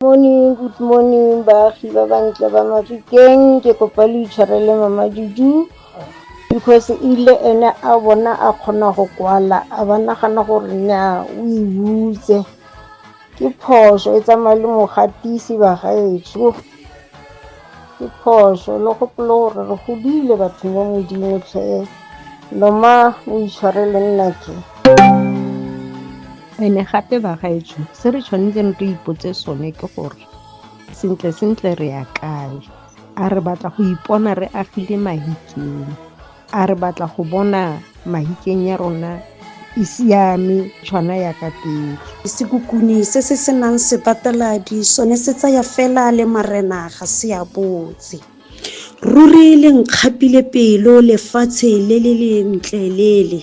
Morning, good morning baagi ba bantle ba Mafikeng. Ke kopa le itshwarele mama Juju because e ile ene a bona a kgona go kwala a ba nagana gore na o e butse. Ke phoso e tsamaya le mogatisi bagaetsho. Ke phoso le gopole gore re godile batho mo modimo tlhe. Loma o itshwarele nnake. Ene gape bagaetsho se re tshwanetseng re ipotse sone ke gore sentle sentle re ya kae a re batla go ipona re agile mahikeng a re batla go bona mahikeng ya rona e siame tshwana ya ka pele sekukuni se se senang sebateladi sone se tsaya fela le marena ga se a botse Ruri le nkgapile pelo lefatshe le le lentle lele.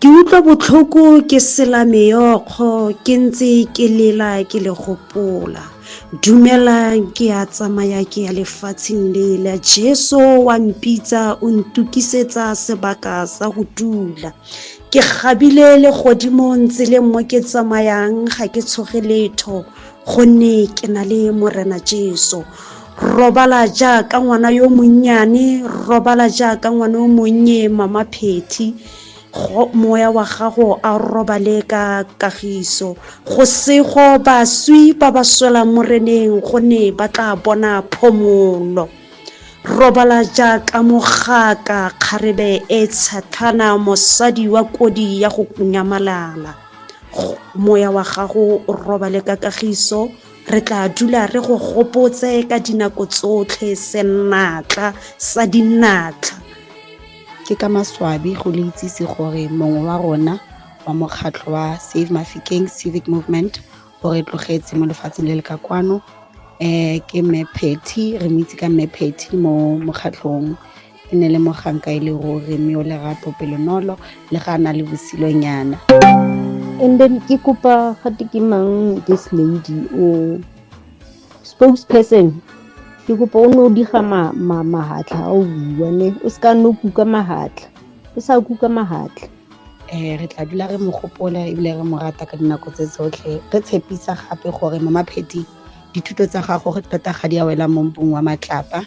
Ke utlwa botlhoko ke sela meyokgo ke ntse ke lela ke le gopola. Dumelang ke a tsamaya ke ya lefatsheng lela. Jeso wa mpitsa o ntukisetsa sebaka sa go dula. Ke kgabile le godimo ntse le mo ke tsamayang ga ke tshoge letho gonne ke na le Morena Jeso. robala jaaka ngwana yo monnyane robala jaaka ngwana o monnye mama phethi moya wa gago a robale ka kagiso go sego baswi ba ba swela moreneng go ne ba tla bona phomolo robala jaaka mogaka kgarebe e tshathana mosadi wa kodi ya go nyamalala moya wa gago o robale ka kagiso Re tla dula re go gopotse ka dinako tsotlhe senatla sa dinatla. Ke ka maswabi go le itsise gore mongwe wa rona wa mokgatlho wa Save Mafikeng Civic Movement o re tlogetse mo lefatsheng le le ka kwano um ke Mme Phetty re mo itse ka Mme Phetty mo mokgatlhong e ne le moganka e le ruri mme o lerato pelonolo le ga a na le bosilonyana and then ke kopa gate ke mang this lady o spokesperson ke kopa o ne o diga mahatlha a o bua ne o se ka nne o kuka mahatlha o sa kuka mahatlha um re tla dula re mo gopola ebile re mo rata ka dinako tse tsotlhe re tshepisa gape gore mo mapheting dithuto tsa gago tota ga di a wela mo mpong wa matlapa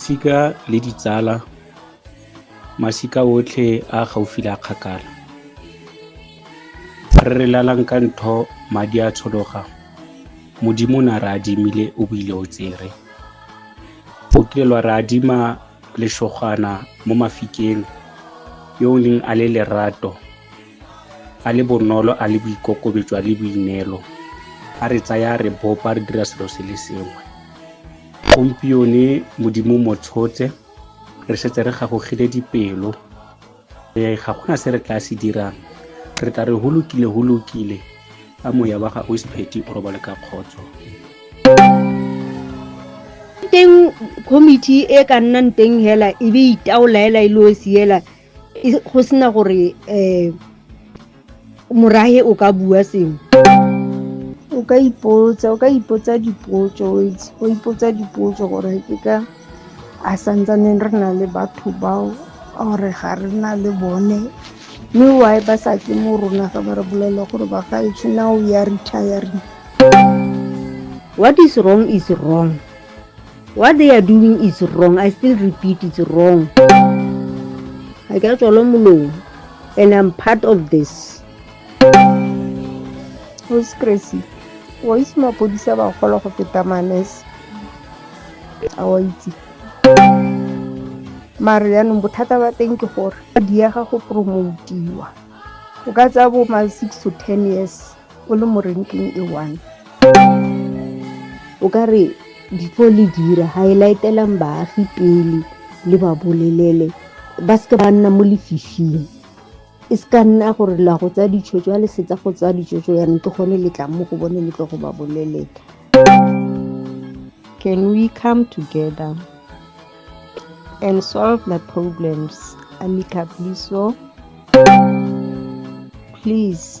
Sika le ditsala, masika otlhe a gaufi le a kgakala. Re re lalang ka ntho madi a tshologa, Modimo na re adimile o buile o tsere. O kile lwa re adima leshogwana mo mafikeng yo o neng a le lerato a le bonolo a le boikokobetso a le boineelo a re tsaya re bopa re dira selo se le sengwe gompione modimo mo tshotse re setse re gagogile dipelo ee ga gona se re tla se dirang re tla re holokile holokile a moya wa gago sepheti o robale ka kgotso teng committee e ka nnang teng hela e be itaola hela e le o siela go sena gore um morahe o ka bua sengwe o ka ipotsa o ka ipotsa dipotso o ipotsa dipotso gore ke ka a santsaneng re na le batho bao gore ga re na le bone mme why ba sa ke mo rona ga ba re bolela gore ba ga etsho now ya retiring what is wrong is wrong what they are doing is wrong i still repeat it's wrong I ka tswalo molomo and i'm part of this who's crazy wa itse mapodisa ba gola go feta manese a wa itse mare yaanong bothata ba teng ke gore di ya ga go promotiwa o ka tsaya bo ma six to ten years o le mo ranking e one o ka re before le dira ga e laetelang baagi pele le ba bolelele ba seke ba nna mo lefifing e se ka nna gore la go tsaya ditshwetso ya lesetsa go tsaya ditshwetso yanong ke gone le tlang mo go bone le tlo go ba bolelela can we come together and solve the problems amicably so please